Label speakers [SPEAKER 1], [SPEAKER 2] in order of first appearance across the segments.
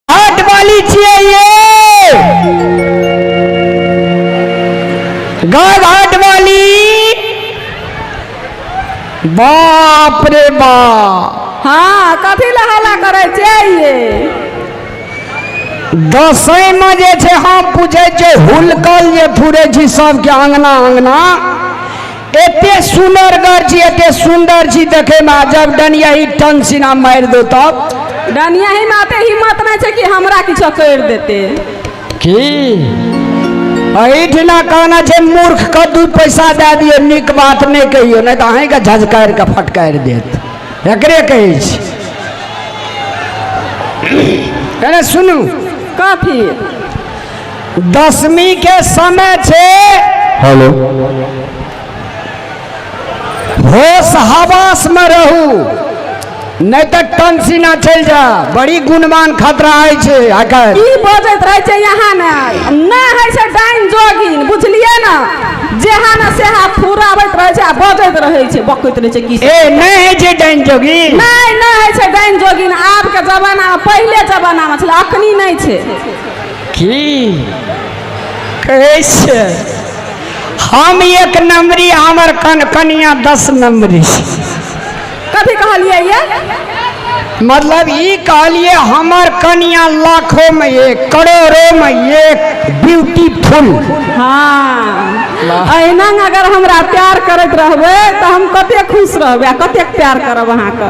[SPEAKER 1] हाट वाली छिए ये गाय हाट वाली बाप रे बाप हाँ कथी लए हल्ला करै छियै दसैं में जे छै हम पूछे छै हुलकल जे थुरे छी सबके अंगना अंगना एते सुनरगर छी एते सुंदर छी देखे में जब डनिया ही टन सिना मार दो तब डनिया ही में आते हिम्मत नहीं छे कि हमरा किछ कर देते की अहिठना कहना छे मूर्ख के दू पैसा दे दिए निक बात नहीं कहियो नहीं तो अहीं के झजकार के फटकार देत एकरे कहे छी अरे सुनू कथी दसमी के समय छे हेलो होश हवास में रहू नहीं तो टंसी ना चल जा बड़ी गुणमान खतरा है छे आकर की बजैत रहे छे यहाँ ने ना है से डाइन जोगिन बुझलिए ना जेहा ना सेहा फुराबैत रहे छे आ बजैत रहे छे बकैत रहे छे की ए नहीं है जे डाइन जोगी नहीं नहीं है से डाइन जोगिन आब के जमाना में पहले जमाना में छे अखनी नहीं छे की कहै छै हम एक नंबरी हमर कन कनिया दस नंबरी कथी कहलियै ये मतलब ई कहलिए हमर कनिया लाखों में एक करोड़ों में एक ब्यूटीफुल हाँ अहिना अगर हमरा प्यार करैत रहबै तऽ हम कते खुश रहबै आ कतेक प्यार करब अहाँके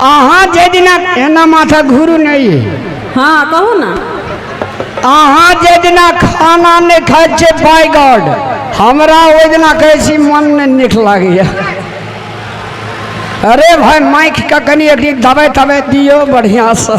[SPEAKER 1] अहाँ जाहि दिना एना माथा घुरू नहि हँ कहू ने अहाँ जे दिना खाना नहि खाइ छियै बाय गॉड हमरा ओहि दिना कहै छी मन नहि नीक लागैए अरे भाय माइकके कनि एक दिन दबाइ तबाइ दियौ बढ़िआँसँ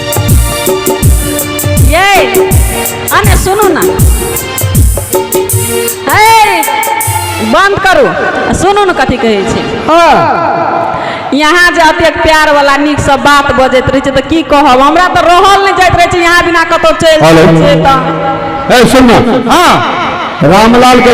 [SPEAKER 1] ये अने सुनू ना हे बंद करू आ सुनू ने कथी कहै छै हाँ यहाँ जे एतेक प्यार वाला नीक से बात बजैत रहै छै तऽ की कहब हमरा तऽ रहल नहि जाइत रहै छै यहाँ बिना कतौ चलि हेलो। जाइ छै तऽ ए सुन ना हाँ रामलाल के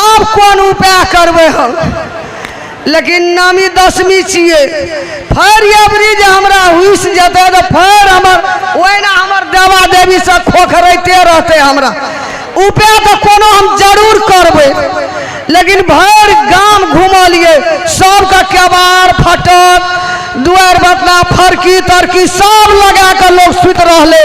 [SPEAKER 1] आब कोन उपाय करबै हम लेकिन नामी दसमी छियै फेर अबरी जे हमरा हुस जेतै तऽ फेर हमर ओहिना हमर देवा देवीसँ खोखरैते रहतै हमरा उपाय तऽ कोनो हम जरूर करबै लेकिन भरि गाम घुमलियै सभके केबार फटक दुआरि बतना फरकी तरकी सभ लगा कऽ लोक सुति रहलै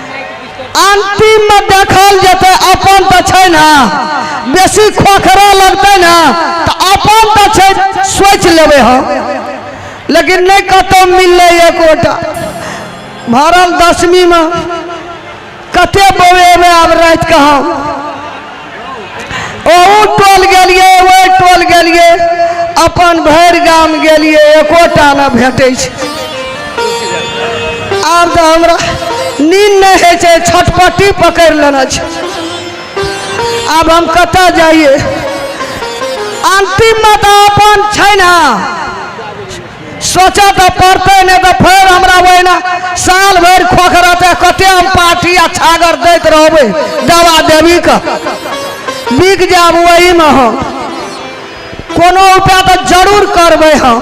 [SPEAKER 1] अंतिम में देखल जेतै अपन तऽ छै ने बेसी खोखरा लगतै ने तऽ अपन तऽ छै सोचि लेबै हम लेकिन नहि कतहु मिललै एकोटा भरल दसमीमे कते बौएबै आब रातिके हम ओहू टोल गेलियै ओहि टोल गेलियै अपन भरि गाम गेलियै एकोटा नहि भेटै छै आब तऽ हमरा नींद नहि होइ छै छटपट्टी पकड़ि लेने छै आब हम कतऽ जाइए अन्तिममे तऽ अपन छै ने सोचऽ तऽ पड़तै नहि तऽ फेर हमरा ओहिना साल भरि खोखरते कते हम पार्टी आ छागर दैत रहबै दवा देवी के बिक जायब ओहीमे हम कोनो उपाय तऽ जरूर करबै हम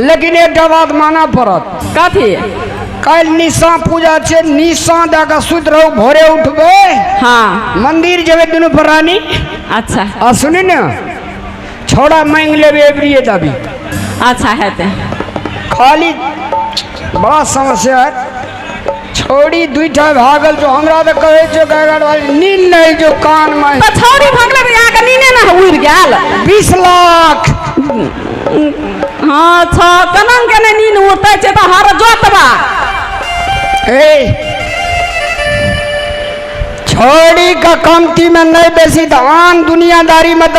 [SPEAKER 1] लेकिन एकटा बात मानऽ पड़त कथी कल निशा पूजा छै निशा दऽ कऽ सुति रहू भोरे उठबै हाँ मंदिर जेबै दुनू प्राणी अच्छा आ सुनी ने छौड़ा मांगि लेबै एबरिए दबी अच्छा हेतै खाली बड़ा समस्या है छोड़ी दुईटा भागल जो हमरा त कहै छौ गागर वाली नीन नै जो कान में त छोड़ी भागले त यहाँ के नीने ना उड़ गेल 20 लाख हां छ कनन के नै नीन उड़ते छै त हर जोतबा ए छोड़ी का कमती में नै बेसी धान दुनियादारी में त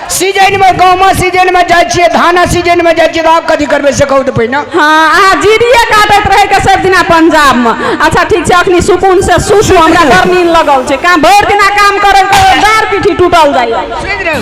[SPEAKER 1] सीजनमे गहूँमा सीजनमे जाइ छियै धाना सीजनमे जाइ छियै तऽ आब कथी करबै से कहू तऽ पहिने हँ अहाँ जीरिए काटैत रहैके सभ दिना पंजाबमे अच्छा ठीक छै अखनी सुकून से सुसू हमरा बड़ नीन लगल छै काम भरि दिना काम करैत करैत डार पीठी टूटल जाइए सुनि रहू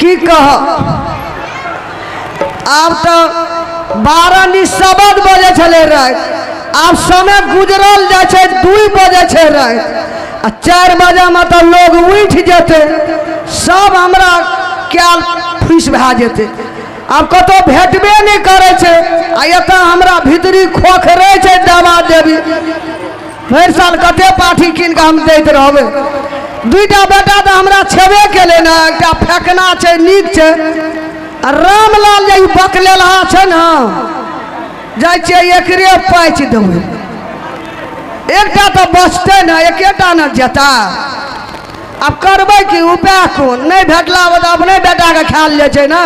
[SPEAKER 1] की कह आब तो बारह नी सबद बजे छले राति आब समय गुजरल जाइ छै दुइ बजे छै राति आ चारि बजेमे तऽ लोग उठि जेतै सब हमरा कयल फुसि भए जेतै आब कतहु भेटबे नहि करै छै आ एतऽ हमरा भीतरी खोखरे छै दवा देवी भरि साल कते पाठी कीन कऽ हम दैत रहबै दुइटा बेटा तऽ हमरा छेबे केलै ने एकटा फेकना छै नीक छै आ रामलाल जे ई बकलेलहा छै ने जाइ छियै एकरे पाचि देबै एकटा तऽ बचतै ने एकेटा ने जेता आब करबै कि उपाय कोन नहि भेटला बाद अपने बेटाके खायल जाइ छै ने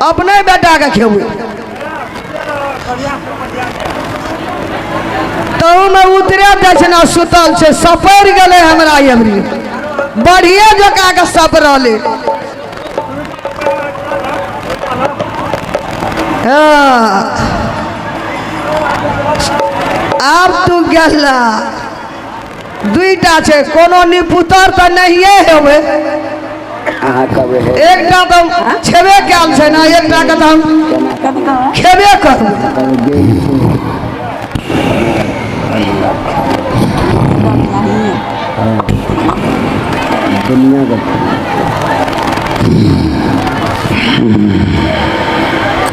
[SPEAKER 1] अपने बेटाके खेबै तहूमे उतरे दक्षिणा सुतल छै सपरि गेलै हमरा एमरी बढ़िए जकाँ के सपरले हाँ। आब तू गेला दुईटा छै कोनो निपुतर तऽ नहिए हेबै अहाँ कहबै हे, एकटा तऽ छेबे कयल छै ने एकटा के तऽ हम खेबे करबै कहबै गेली छी। दुनिया के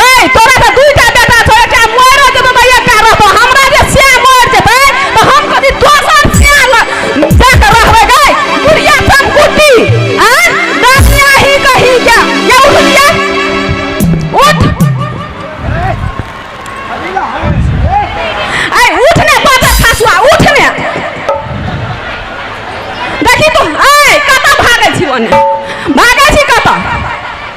[SPEAKER 1] गई तोरा तो दू टा बेटा छौ एकटा मरो जेतो तो एकटा रहतो हमरा जे से मर जेतै तो हम कथि दोसर से ल देख रहबै गई बुढ़िया सब कुटी आ दसिया ही कही जा ये उठिया उठ ऐ उठ ने बाजा खासुआ उठ ने देखी तू ऐ कतऽ भागै छी ओने भागै छी कतऽ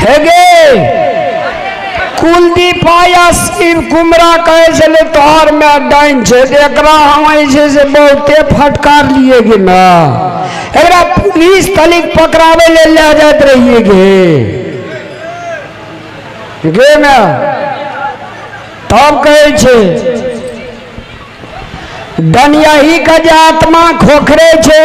[SPEAKER 1] हेगे कुलदीप आया शिव कुमरा कहे छले तोहर में डाइन छे तो एकरा हम ऐसे से बहुते फटकार लिए गे ना एकरा पुलिस तलिक पकड़ावे ले ले जात रहिए गे गे ना तब कहे छे डनियाही का जे आत्मा खोखरे छे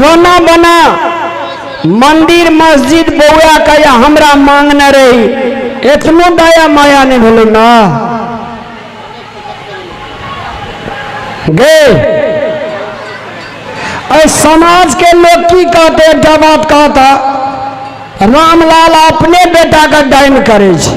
[SPEAKER 1] रोना बना मंदिर मस्जिद बौआ के या हमरा मांगने रही एतनो दया माया नहीं भेल ना गे अरे समाज के लोग की कहते एकटा बात कहता रामलाल अपने बेटा के डाइन करे छै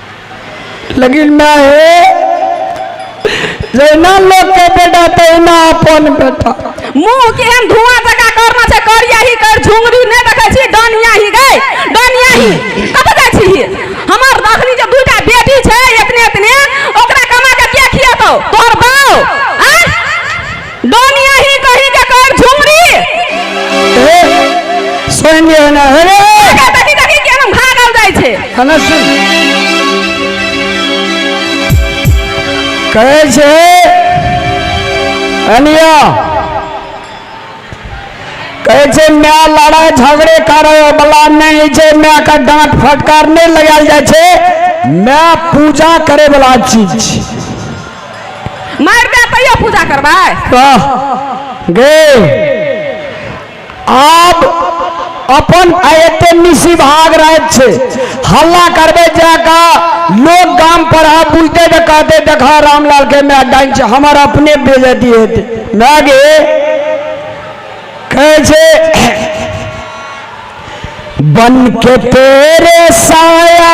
[SPEAKER 1] लेकिन मैं हे जहिना लोग के बेटा तहिना अपन बेटा मुंह केहन धुआं जका करना छै करिया ही कर झुंगरी ने देखे छी डनिया ही गई डनिया ही कत जाय छी हमर अखनी जे दुटा बेटी छै इतने इतने ओकरा कमा के के खियातो तोर बाऊ डोनिया ही कहीं के कर झुमरी ए सुन दियो ना अरे का देखी देखी के हम भागल जाय छे हना सुन कहे छे अनिया कहे छे मैं लड़ाई झगड़े करे वाला नहीं छे मैं का डांट फटकार नहीं लगाल जाय छे मैं पूजा करे वाला चीज छी। मारि दे तैयो पूजा करबै कह गे आब अपन आ एते निशी भाग रात छै हल्ला करबै जाका लोग गाम पर आ बुझते तऽ कहते देखा रामलाल के माय डाइन छै हमर अपने बेजती हेतै माय गे कहै छै बन के तेरे साया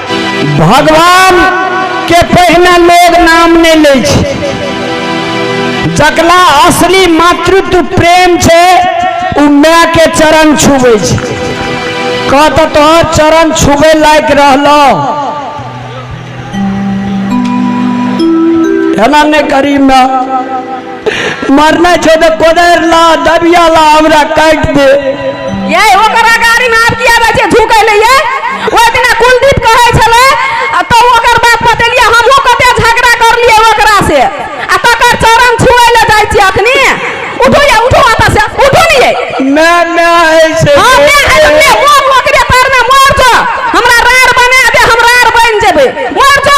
[SPEAKER 1] भगवान के पहिने लोग नाम नहीं ले छै जकरा असली मातृत्व प्रेम छै ओ माय के चरण छुबै छै कह तऽ तोहर चरण छुबै लायक रहलौ एना नहि करी माय मरना छो तो कोदर ला दबिया ला हमरा काट दे ये ओकरा गाड़ी में आब किया बे छै झुकै ले ये ओइ दिना कुलदीप कहै छले आ तो ओकर बात बतेलिए हमहू कते झगड़ा करलिए ओकरा से आ तकर चरण छुए ले जाइ छी अखनी उठू ये उठू आता से उठू नहीं ये मैं मैं है से हां मैं है मैं वो ओकरे पैर में मर जा हमरा रार बना दे हम रार बन जेबे मर जा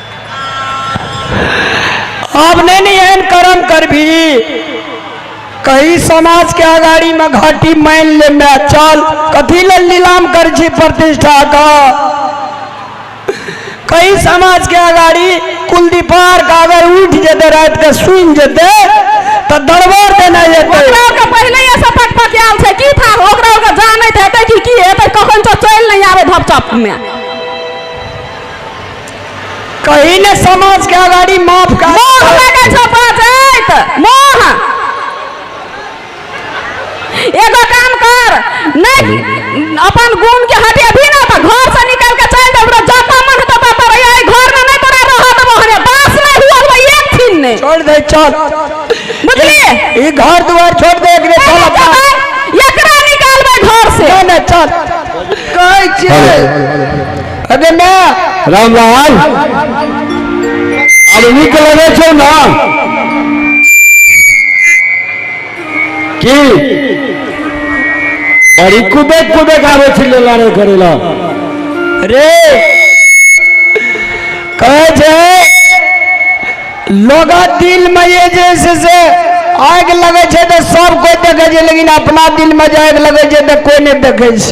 [SPEAKER 1] अब नहीं नहीं एहन कर्म करबी कही समाज के अगाड़ी में घाटी मान ले मैं चल कथी ले नीलाम कर छी प्रतिष्ठा का कई समाज के अगाड़ी कुलदीपार का अगर उठ जेते रात के सुन जेते तो दरबार देना जेते ओकरा ओकरा पहिले ये सब पक पक आयल छै की था ओकरा ओकरा जानैत हेतै कि की हेतै कखन तो चलि नहि आबै धपचप मे कहीं ने समाज के अगाड़ी माफ कर मोह लगै छौ बाजैत मोह एगो काम कर नहीं अपन गुण के हटेबही ना तऽ घर से निकल के चल जाऊ रे जतऽ मन हेतौ ततऽ रहिए एहि घर में नहीं तोरा रह देबो हने बास नहीं हुआ हुआ एक दिन ने छोड़ दे चल बुझलिए ई घर दुआर छोड़ दे एकरे चल अपना एकरा निकालबै घर से नहीं नहीं चल कहै छियै अरे ना रामलाल अब नीक लगे छौ ना की बड़ी कुदे कुदे गावे छी लेला रे करेला रे कहे छे लोगा दिल में ये जैसे से आग लगे छे तो सब कोई देखे छे लेकिन अपना दिल में जे आग लगे छे तो कोई नहीं देखे छे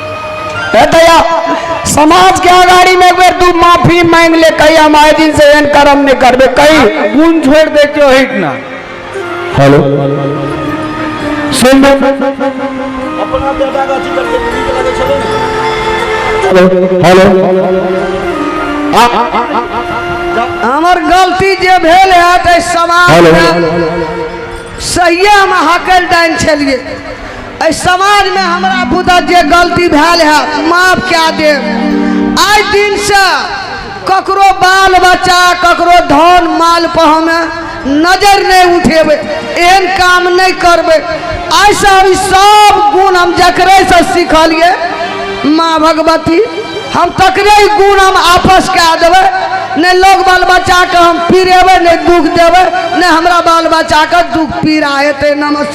[SPEAKER 1] एतया समाज के अगाड़ी में एक बेर तू माफी मांग ले कही हम आए दिन से एहन कर्म नहीं करबे कही गुण छोड़ दे के ओही ना हेलो सुन अपना बेटा का अथी करके नीक लगे छले ने हेलो हमर गलती जे भेल है ते समाज हेलो में सहिए हम हकल डाइन छलिए एहि समाजमे हमरा बुझा जे गलती भेल है माफ कए देब आइ दिनसँ ककरो बाल बच्चा ककरो धन माल पर हमे नजर नहि उठेबै एहन काम नहि करबै आइसँ हम ई सब गुण हम जकरेसँ सिखलियै माँ भगवती हम तकरे ई गुण हम आपस कए देबै नहि लोग बाल बच्चाके हम पीरेबै नहि दुख देबै नहि हमरा बाल बच्चाके दुख पीड़ा हेतै नमस्कार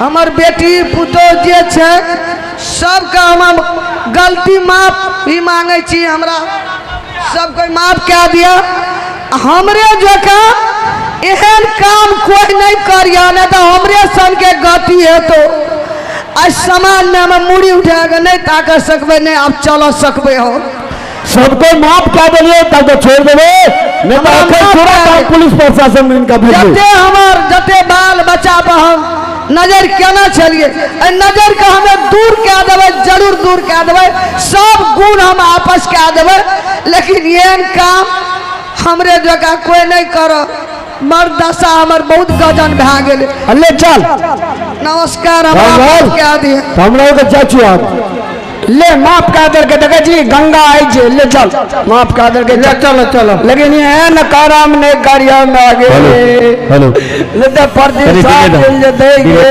[SPEAKER 1] हमर बेटी पुतोह जे छै सबके हम गलती माफ भी मांगे छी हमरा सब कोई माफ कए दिया हमरे जका एहन काम कोई नहीं करिया नहीं तो हमरे सन के गति हेतो आज समाज में हम मुड़ी उठा के नहीं ताक सकबे नहीं आप चल सकबे हो सबको माफ कऽ देलियै तब तऽ छोड़ि देबै नहि तऽ एखन पूरा काम पुलिस प्रशासन मे इनका भेज जते देबै हमर जते बाल बच्चा पर हम नजर केना छलिए एहि नजर के हमे दूर कए देबै जरूर दूर कए देबै सब गुण हम आपस कए देबै लेकिन एहन काम हमरे जकाँ कोई नहीं करब हमर दशा हमर बहुत गजन भए गेल अल्ले चल नमस्कार हमरा चल, माफ चल। कए दिए हम लोग के जा चुआ ले माफ कर दे के देखे जी गंगा आई जे ले चल माफ कर दे के ले चल चल लेकिन ये है न काराम ने गाड़िया में आगे हेलो ले तो परदेश आ गेल जे देंगे